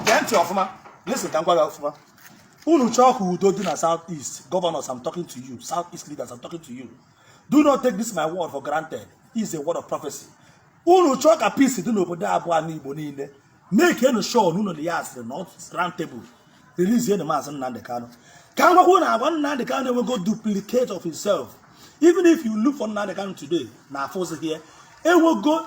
gee ntị ọfụma listen ka m gwa gị ọfụma unu chọọ ka udo dị na south east governors i'm talking to you south east leaders i'm talking to you do not take this my word for granted is a word of prophecy unu chọọ ka peace dị n'obodo a bụ anị igbo niile makenụ sure na unu na ya asịrị na round table releasenụ maazị nnamdị kanu ka m gwakwa unu agwa nnamdị kanu enwego duplicate of himself even if you look for nnamdị kanu today na afụzi here enwego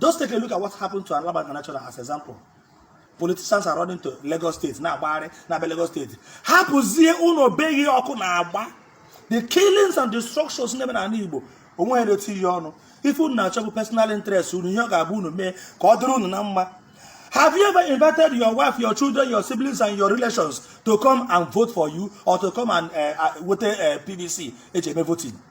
Just take a look at what happened to Alaba International as example. Politicians are running to Lagos State na-agbagharị na-abịa Lagos State hapụzie ụnọ be ghị ọkụ na-agba the killings and destructions na-eme n'anị Igbo o nweghị na-etinye ọnụ ife unu na-achọ bụ personal interest unu ihe ọ ga-abụ unu mee ka ọ dịrị unu na mma Have you ever invited your wife, your children, your siblings, and your relations to come and vote for you or to come and uh, uh, weta PVC e ji eme voting?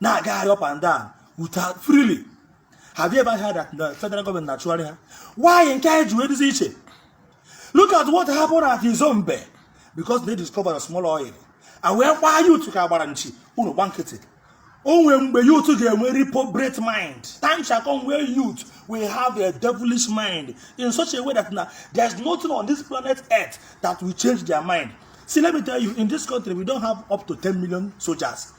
na-agagharị up and down without freely have you ever heard that the federal government na-achụgharị ha why nke anyị ji wee dịzị iche look at what happened at Izombe because they discovered a small oil and wee gbaa youth ka a gbara nchi unu gba nkịtị o nwe mgbe youth ga-enwe reprobate mind time shall come where youth will have a devilish mind in such a way that na there is nothing on this planet earth that will change their mind see let me tell you in this country we don't have up to 10 million soldiers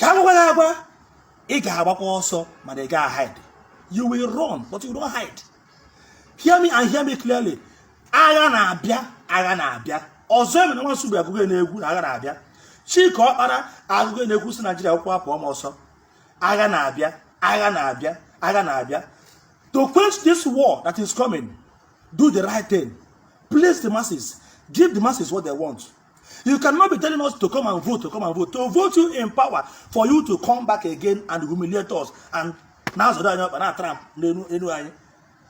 ka m gwa gị agwa ị ga-agbakwa ọsọ mana ị gaghị hide you will run but you don't hide hear me and hear me clearly agha na-abịa agha na-abịa ọzọemena nwa nsugbe agụgo ya n'egwu na agha na-abịa chika ọkpala agụgo ya n'egwu sị naijiria akwụkwọ apụ ọma ọsọ agha na-abịa agha na-abịa agha na-abịa to quench this war that is coming do the right thing please the masses give the masses what they want You cannot be telling us to come and vote, to come and vote, to vote you in power for you to come back again and humiliate us and na-azọda na-tramp n'elu anyị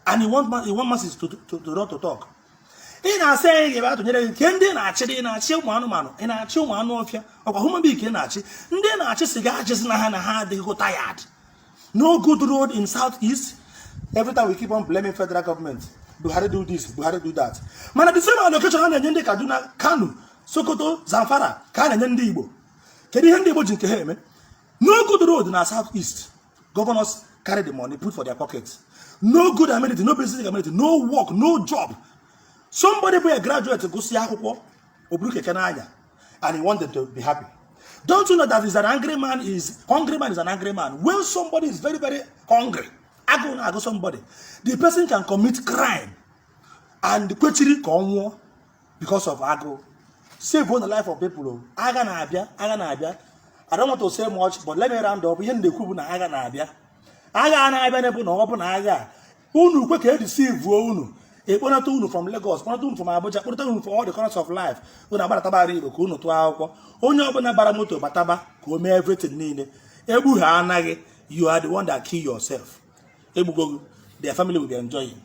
and you want you want masses to to to not to talk. ị na-asị anyị ga-abịa tụnyere gị kee ndị ị na-achị ị na-achị ụmụ anụmanụ ị na-achị ụmụ anụ ọfịa ọ kwa human being ka ị na-achị ndị ị na-achị sị gị achịzina ha na ha adịgo tired no good road in south east every time we keep on blaming federal government buhari do this buhari do that mana the same allocation a na-enye ndị kaduna kano sokoto zamfara ka a na-enye ndị igbo kedu ihe ndị igbo ji nke ha eme no good road na south east governors carry the money put for their pocket no good amenity no basic amenity no work no job somebody bụ a graduate gụsị akwụkwọ o buru keke na-anya and you want them to be happy. Don't you know that is an angry man is hungry man is an angry man. When somebody is very very hungry, agụụ na-agụ somebody, the person can commit crime and kwechiri ka ọ nwụọ because of agụụ. Savenụ the life of people. Oh. Agha na-abịa, agha na-abịa. I don't want to say much, but let me round up. Ihe m na-ekwu bụ na agha na-abịa. Agha na-abịa na-ebu na ọ bụ na agha unu kwe ka e deceive-uo unu ekponata unu from Lagos kponata unu from Abuja kponata unu from all the corners of life unu agbalataba ala Igbo ka unu tụọ akwụkwọ onye ọbụna bara moto bataba ka o mee everything niile egbu ha anaghị you are the one that kill yourself egbuo gị their family will be enjoying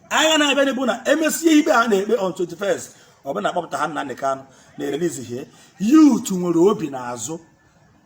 agha na-abịanụ bụ na emesie ikpe ha na-ekpe on 21st ọ bụ na akpọpụta ha Nnamdi Kanu na e release ihe youth nwere obi n'azụ